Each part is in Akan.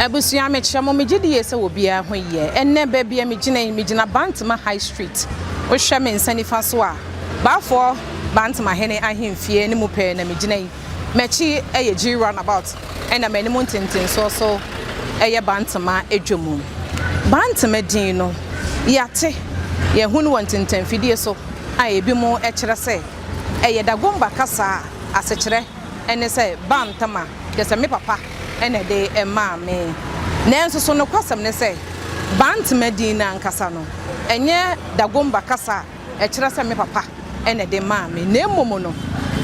Abusua mekyerɛ mo me gyidi yie sɛ wɔ biara ho yie. Ɛnnɛ baabi a megyina yi, megyina Bantama High Street. Wohwɛ me nsa nifa so a, Baafoɔ Bantama hene ahemfie no mu pɛɛ na megyina yi. M'akyi yɛ Gyii Roundabout ɛna m'anim ntentensoɔ so yɛ Bantama dwa mu. Bantama din no, yɛate, yɛahu no wɔ ntentanfidie so a ebinom kyerɛ sɛ ɛyɛ Dagomba kasa asekyerɛ. ne sɛ Bantama, kyerɛ sɛ me papa na ɛde maa me. Nanso so nokwasɛm ne sɛ Bantama din no ankasa no, ɛnyɛ Dagomba kasa a ɛkyerɛ sɛ me papa na ɛde maa me, na mmom no,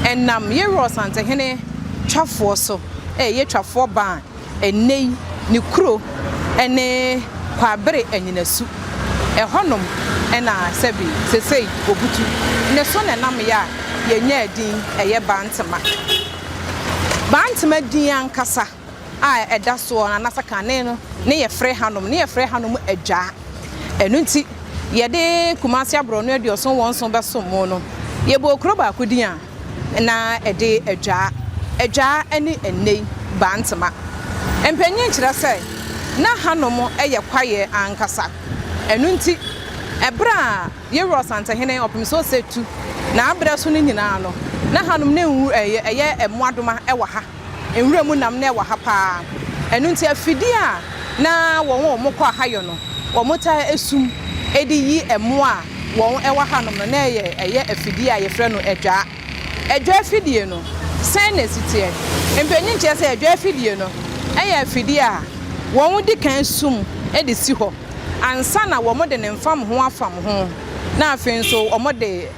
ɛnam Yerɔs Antehene twafoɔ so, ɛyɛ Twafoɔ Ban. Ɛnnɛ yi ne kuro ne Kwabere Anyinasu. Ɛhɔnom na sɛbe sesei Obutu ne so na ɛnameɛ a yɛnyaa din ɛyɛ Bantema. Bantema din ankasa a ɛda soɔ no anaasɛ kane no ne yɛfrɛ hanom no yɛfrɛ hanom Adwaa. Ɛno nti yɛde Kumase Aborɔno Aduɔson wɔn nson bɛsom mo no yɛbɔɔ kuro baako din a, na ɛde adwaa, adwaa ne nnɛyi bantama. Mpanyin kyerɛ sɛ na hanom yɛ kwaeɛ ankasa. Ɛno nti, ɛberɛ a Yeru Ɔsantehene Ɔpem So Ɔsɛ tu n'abrɛ so no nyinaa no, na hanom no nwu, ɛyɛ mmoadoma wɔ ha. nwura mu nam na ɛwɔ ha paa. Ɛno nti afidie a na wɔn a wɔkɔ ahayɔ no wɔtaa sum de yi mmoa a wɔn wɔ hanom no na ɛyɛ ɛyɛ afidie a yɛfrɛ no adwaa. Adwaa afidie no sɛn na ɛsi teɛ? Mpanin kyerɛ sɛ adwaa afidie no yɛ afidie a wɔn di kan sum de si hɔ ansa na wɔde ne mfam ho afam ho na afei nso wɔde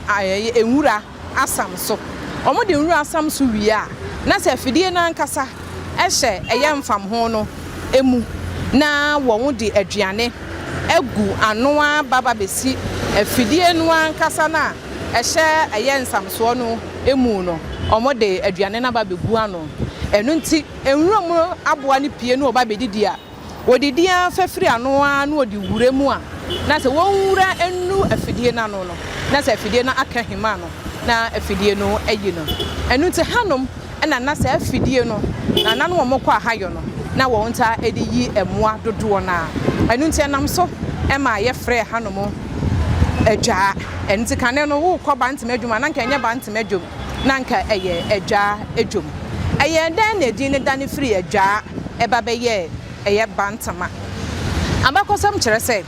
nwura asam so. Wɔde nwura asam so wie a, na sɛ afidie no ankasa hyɛ ɛyɛ mfamho no mu na wɔde aduane agu ano aba ba bɛsi afidie no ankasa no a ɛhyɛ ɛyɛ nsamsoɔ no mu no, wɔde aduane no aba bɛgu ano. Ɛno nti, nwura mu aboa no pue na wɔba bɛdidi a, Wɔdidi ara fa firi ano ara na wɔde wura mu a, na sɛ wɔnwura nnu afidie no ano no, na sɛ afidie no aka ahima no, na afidie no ayi no. Ɛno nti, hanom na na saa afidie no, na na ne wɔkɔ ahayɔ no, na wɔtaa de yi mmoa dodoɔ no ara. Ɛno nti, ɛnam so maa yɛfrɛɛ hanom adwaa. Ɛno nti, kane no worekɔ bantama adwuma a, na anka ɛnyɛ bantama dwam. na anka ɛyɛ Adwaa adwom. Ɛyɛɛ dɛn na edin no dane firii Adwaa ba bɛyɛɛ ɛyɛ Bantama? Abakɔsɛm kyerɛ sɛ,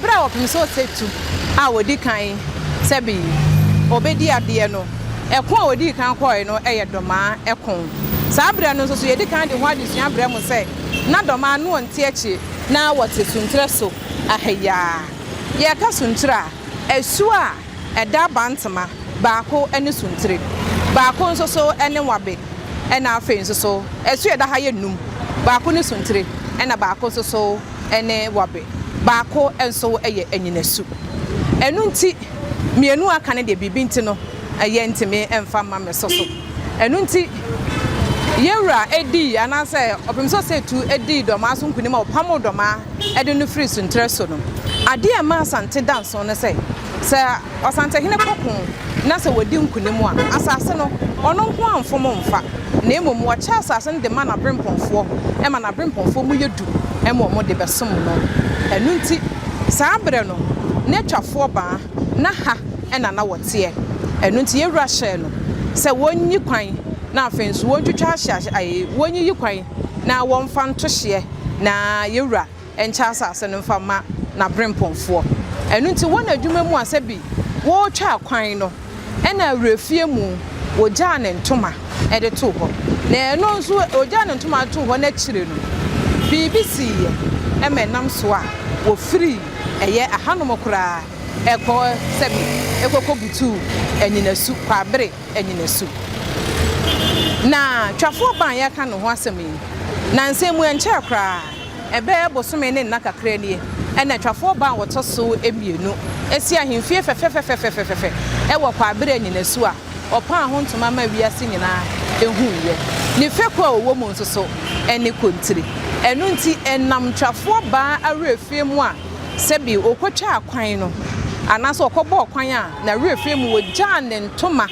bere a wɔpem sɛ ɔsatu a odi kan sɛ bi obedi adeɛ no, ɛko a odii kan kɔɔe no yɛ Dɔmaa ɛko. Saa bere no nso so yɛadi kan de ho adesua brɛ mo sɛ na Dɔmaa no nte akyire. Na wɔte Sunterɛ so ha yi ara. Yɛreka Sunterɛ a, asuo a. Ɛda abantema, baako ne suntire, baako nso so ne nwabe, ɛna afei nso so ɛso a ɛda ha yɛ nnum, baako ne suntire, ɛna baako nso so ne nwabe, baako nso yɛ anyinasu. Ɛno nti, mmienu a aka no deɛ, biribi nti no, yɛntumi mfa mma me so so. Ɛno nti, yɛn Wura dii, anaasɛ Ɔpemsɛ Ɔsatu dii dɔmaa so nkonim a ɔpamoo dɔmaa. de no firi Sunterɛ so no, adeɛ a ɛma Asante da nso ne sɛ, sɛ Ɔsantehene kɔko na sɛ wɔdi nkonim a, asase no, ɔno nko ara mfom mfa, na mmom wɔkyɛ asase no de ma n'aberempɔnfoɔ ma n'aberempɔnfoɔ mu yɛ du ma wɔn de bɛsom no. Ɛno nti, saa berɛ no, na Atwafoɔ baa, na ha na na wɔteɛ. Ɛno nti, yɛn wura hyɛɛ no sɛ wɔnyi kwan, na afei nso wɔntwitwa ahye, wɔnyiyi kwan, Na wɔmfa ntohyeɛ na Yewura nkyɛ asase no mfa mma N'aberempɔnfoɔ. Ɛno nti wɔn adwuma mu a sɛ bi wɔretwa akwan no ɛna awurafie mu wɔgyaa ne ntoma de too hɔ. Na ɛno nso wɔgyaa ne ntoma de too hɔ no akyire no biribi siiɛ ɛma ɛnam so a wɔfirii ɛyɛ ahanom koraa ɛkɔɔ sɛ bi ɛkɔkɔbutuu anyinasu Kwaabere nnyinasu. Na Twafoɔ Ban a yɛreka ne ho asɛm yi, nnansa mu ɛnkyɛɛ koraa, ɛbɛyɛ bosome ne nna kakra nie, ɛna Twafoɔ Ban a wɔtɔ so mmienu asi ahemfie fɛfɛfɛfɛfɛfɛfɛ wɔ Kwaabere nnyinasu a wɔpaa ho ntoma maa wiase nyinaa huiɛ. Ne fekuo a wɔwɔ mu nso so ne Kontiri. Ɛno nti, ɛnam Twafoɔ Ban awerɛfie mu a Sɛ bi ɔkɔtwaa kwan no, anaasɛ ɔkɔbɔɔ kwan a, na werɛ firi mu ɔgyaa ne ntoma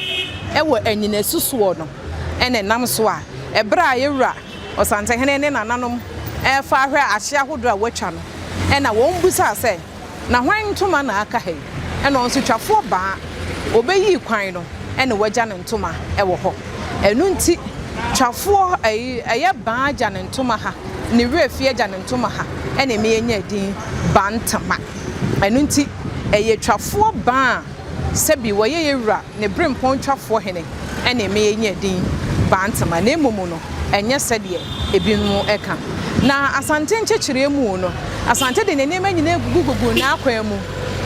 wɔ anyinasu soɔ no, ɛna ɛnam so a, ɛberɛ a yɛ Wura Ɔsantehene ne nananom refa ahwɛ ahyeɛ ahodoɔ a wɔatwa no, ɛna wɔn bisaa sɛ, Na hwan ntoma na aka ha yi? Ɛna ɔnsotwafoɔ baa, ɔbɛyii kwan no, ɛna wagya ne ntoma wɔ hɔ. Ɛno nti twafoɔ ɛyi ɛyɛ baa agya ne ntoma ha ne werɛ fi agya ne ntoma ha ɛna ɛma yɛnya edin Bantama. Ɛno nti ɛyɛ twafoɔ baa a sɛbi wɔyɛ yɛ wura ne brempɔn twafoɔ hene ɛna ɛma yɛnya edin Bantama na mmom no ɛnyɛ sɛdeɛ ebinom ɛka. Na Asante nkyekyereɛ mu no Asante de ne nneɛma nyinaa gugu gugu n'akwan mu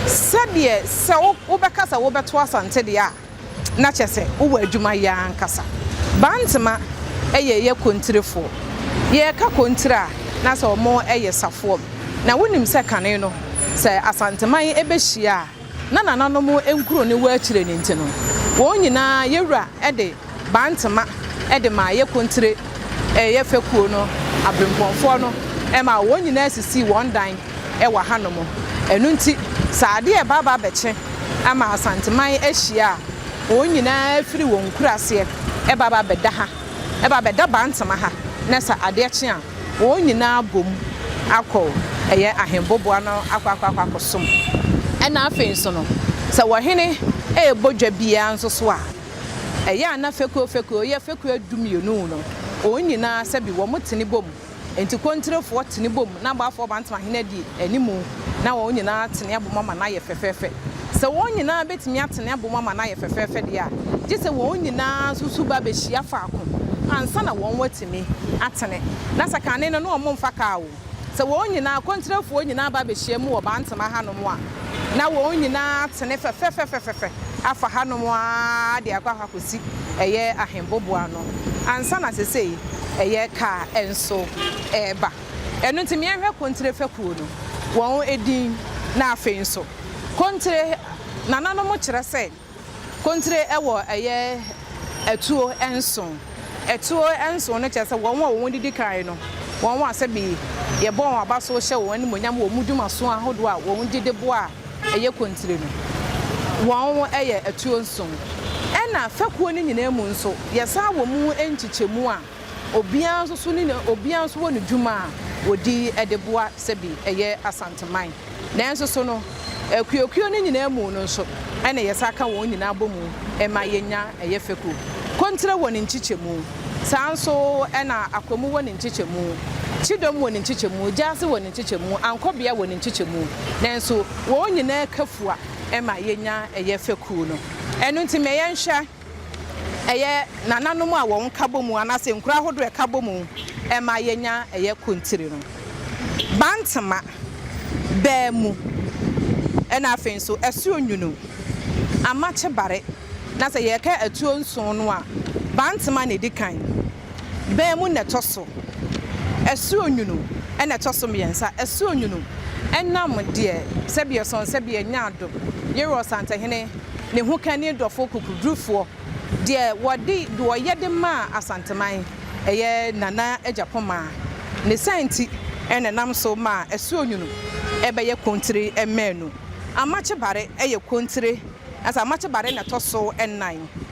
sɛdeɛ sɛ wobɛka sɛ wobɛto Asante deɛ a, na kyɛ sɛ wowɔ adwuma yɛ ara ankasa. Bantema yɛ yɛ kontirefoɔ. Yɛreka kontire a, na sɛ wɔyɛ safoam. Na wonim sɛ kane no, sɛ Asanteman bɛhyia a, na nananom nkuro ne wɔ akyire no nti no, wɔn nyinaa yɛ wura de Bantema de maa yɛ kontire yɛ fɛkuo no aberempɔnfoɔ no maa wɔn nyinaa sisii wɔn dan wɔ hanom. Ɛno nti, sɛ adeɛ reba aba abɛkye ama Asanteman ahyia a, wɔn nyinaa firi wɔn nkuraseɛ ba ba bɛda ha, ba bɛda Bantama ha, na sɛ adeɛ kye a, wɔn nyinaa bom akɔ ɛyɛ Ahenboboa no akɔ akɔ akɔ akɔsom. Ɛna afei nso no, sɛ ɔhene rebɔ dwa biara nso so a, ɛyɛ a na fekuo fekuo, yɛ fekuo du mmienu no, wɔn nyinaa sɛbi wɔtene bom Enti kontirefoɔ tene bom na abɔafoɔ bantamahene di animu na wɔn nyinaa tene abom ama no ayɛ fɛfɛɛfɛ. Sɛ wɔn nyinaa bɛtumi atene abom ama no ayɛ fɛfɛɛfɛ deɛ a, gye sɛ wɔn nyinaa nso su ba bɛhyia faako ansa na wɔn atumi atene. Na sɛ kane no na wɔmfa kaa o, sɛ wɔn nyinaa, kontirefoɔ nyinaa ba bɛhyiam wɔ bantama hanom a, na wɔn nyinaa atene fɛfɛfɛfɛfɛfɛ afa hanom ara de akɔ akɔsi ɛyɛ Ahembobo ano ansa na sesei ɛyɛ kaa nso reba. Ɛno nti meɛnhwɛ Kontire fɛkuo no wɔn edin na afei nso Kontire nananom kyerɛ sɛ. Kontire wɔ ɛyɛ atuo nson. Atuo nson no kyerɛ sɛ wɔn a wɔn didi kan no, wɔn a sɛbi yɛbɔ wɔn aba so hyɛ wɔn animuonyam wɔ wɔn dwumaso ahodoɔ a wɔn gye de boa a ɛyɛ kontire no. Wɔn yɛ atuo nson. Ɛna fɛkuo no nyinaa mu nso, yɛsan wɔ mu nkyekyɛmu a. Obiara nso so ne ne obiara nso wɔ ne dwuma a wɔdi de boa sɛbi ɛyɛ Asanteman. Nanso so no, akuokuo no nyinaa mu no nso na yɛsan ka wɔn nyinaa bɔ mu ma yɛnya ɛyɛ fɛkuo. Kontrɛ wɔ ne nkyekyɛmu, saa nso na Akwamu wɔ ne nkyekyɛmu, Kyidom wɔ ne nkyekyɛmu, Gyaase wɔ ne nkyekyɛmu, Ankɔbea wɔ ne nkyekyɛmu. Nanso wɔn nyinaa ka fua ma yɛnya ɛyɛ fɛkuo no. Ɛno nti ma yɛnhwɛ. ɛyɛ nananom a wɔn nkabɔmu anaasɛ nkuro ahodoɔ a ɛka bɔmu ma yɛnya ɛyɛ kontiri no. Bantama, baamu, ɛna afei nso asuo nwunu, amakye bare. Na sɛ yɛreka atuo nson no a, bantama na ɛdi kan. bɛn mu na ɛtɔ so? Asuonwunu na ɛtɔ so mmiɛnsa. Asuonwunu nam deɛ sɛdeɛ sɔn sɛdeɛ nyaado yere Ɔsantehene, ne ho ka ne dɔfoɔ kokurudurufoɔ, deɛ wɔde deɛ ɔyɛ de maa Asanteman, ɛyɛ Nana Agyapomaa, ne saa nti na ɛnam so ma Asuonwunu bɛyɛ kontire mmaanu. Amakye Bare yɛ kontire, nanso Amakye Bare na ɛtɔ so nnan.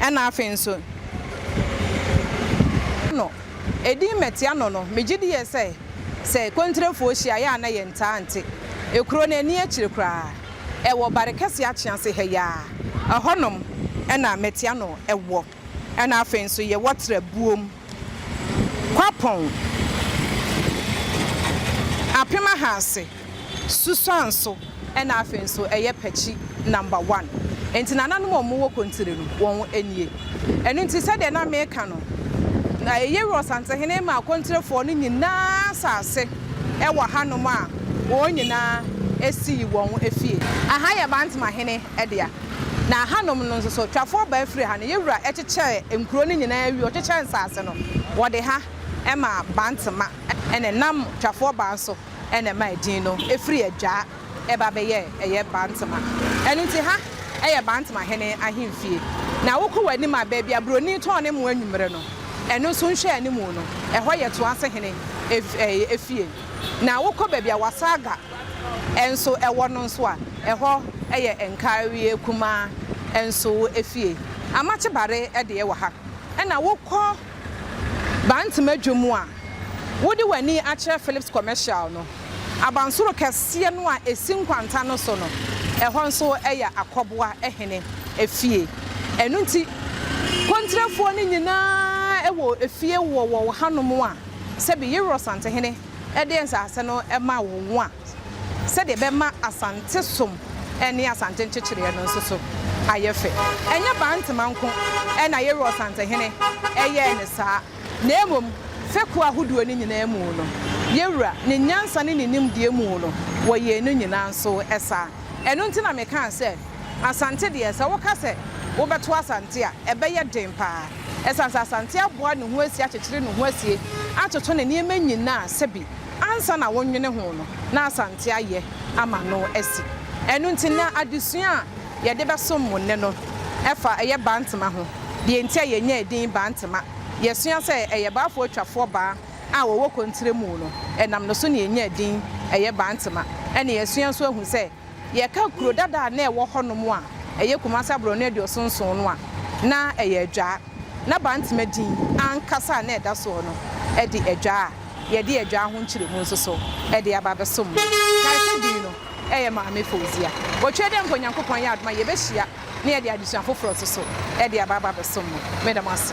Ɛna afei nso no edin Mɛtia no no megye di yɛ sɛ sɛ kontirefoɔ hyia yɛ a na yɛ ntaa nte ekuro no ani akyire koraa ɛwɔ bare kɛseɛ akyease ha yi ara ɛhɔ nom ɛna Mɛtia no ɛwɔ ɛna afei nso yɛwɔ tra buom. Kwapɔn apem ahaase susuanso ɛna afei nso ɛyɛ pɛkyi number one nti nananom a wɔwɔ kontire no wɔn nie ɛno nti sɛdeɛ na meka no na ɛyere ɔsantehene ma akontirefoɔ no nyinaa asaase ɛwɔ hanom a wɔn nyinaa ɛsii wɔn afie. Aha yɛ Bantama hene dea. Na hanom no nso so, twafoɔ baa firi ha no, yɛ wura kyekyɛɛ nkuro no nyinaa wie, ɔkyekyɛɛ nsaase no, wɔde ha maa Bantama, ɛna ɛnam twafoɔ baa no so na ɛmaa din no firi Adwaa ɛba bɛyɛɛ ɛyɛ Bantama. Ɛno nti ha yɛ Bantama hene ahemfie. Na wokɔ w'anim a, baabi a buroni tɔn ne mmoa anwummerɛ no, ɛno nso nhwɛ anim no, ɛhɔ yɛ Toase hene fie. Na wokɔ baabi a Wasaga. nso wɔ no nso a, ɛhɔ yɛ Nkawie Kumaa nso fie. Amakye Bare deɛ wɔ ha. Ɛna wokɔ Bantema dwom a, wode w'ani akyerɛ Philips Commercial no, abansoro kɛseɛ no a ɛsi nkwanta no so no, ɛhɔ nso yɛ Akɔboa hene fie. Ɛno nti, Kontrafoɔ no nyinaa wɔ fie wɔ wɔ hanom a, sɛbi Yero Asantehene. de nsase no ma wɔn a, sɛdeɛ ɛbɛma Asante som ne Asante nkyekyereɛ no nso so ayɛ fɛ. Ɛnyɛ Bantama nko na Yeru Ɔsantehene yɛɛ no saa, na mmom fekuo ahodoɔ no nyinaa mu no, Yewura, ne nyansa ne ne nimdeɛ mu no, wɔyɛɛ no nyinaa nso saa. Ɛno nti na mekaa sɛ, Asante deɛ, sɛ woka sɛ wobɛto Asante a, ɛbɛyɛ den pa ara. Esiane sɛ Asante aboa ne ho asie akyekyere ne ho asie atoto ne nneɛma nyinaa a sɛbi ansa na wonwene ho no, na Asante ayɛ ama no asi. Ɛno nti, na adesua a yɛde bɛsom mo nnɛ no fa ɛyɛ Bantama ho. Deɛ nti a yɛnyaa edin Bantama, yɛasua sɛ ɛyɛ Baafoɔ atwafoɔ baa a wɔwɔ Kontrɛmu no, ɛnam no so na yɛnyaa edin ɛyɛ Bantama. Ɛna yɛasua nso ahu sɛ Yɛka kuro dada a na ɛwɔ hɔnom a ɛyɛ Kumasi aborɔno aduoson nson no a, na ɛyɛ Adwaa. Na Bantama din ankasa a na ɛda soɔ no de Adwaa a yɛde Adwaa ho nkyerɛmu nso so de aba abɛsom no. Kae sɛ din no yɛ Maame Fauzia. Ɔtwerɛ dɛ mpo Nyankopɔn ayɛ adom a yɛbɛhyia. na yɛde adesua foforɔ nso so de aba aba abɛsom no. Meda mo ase.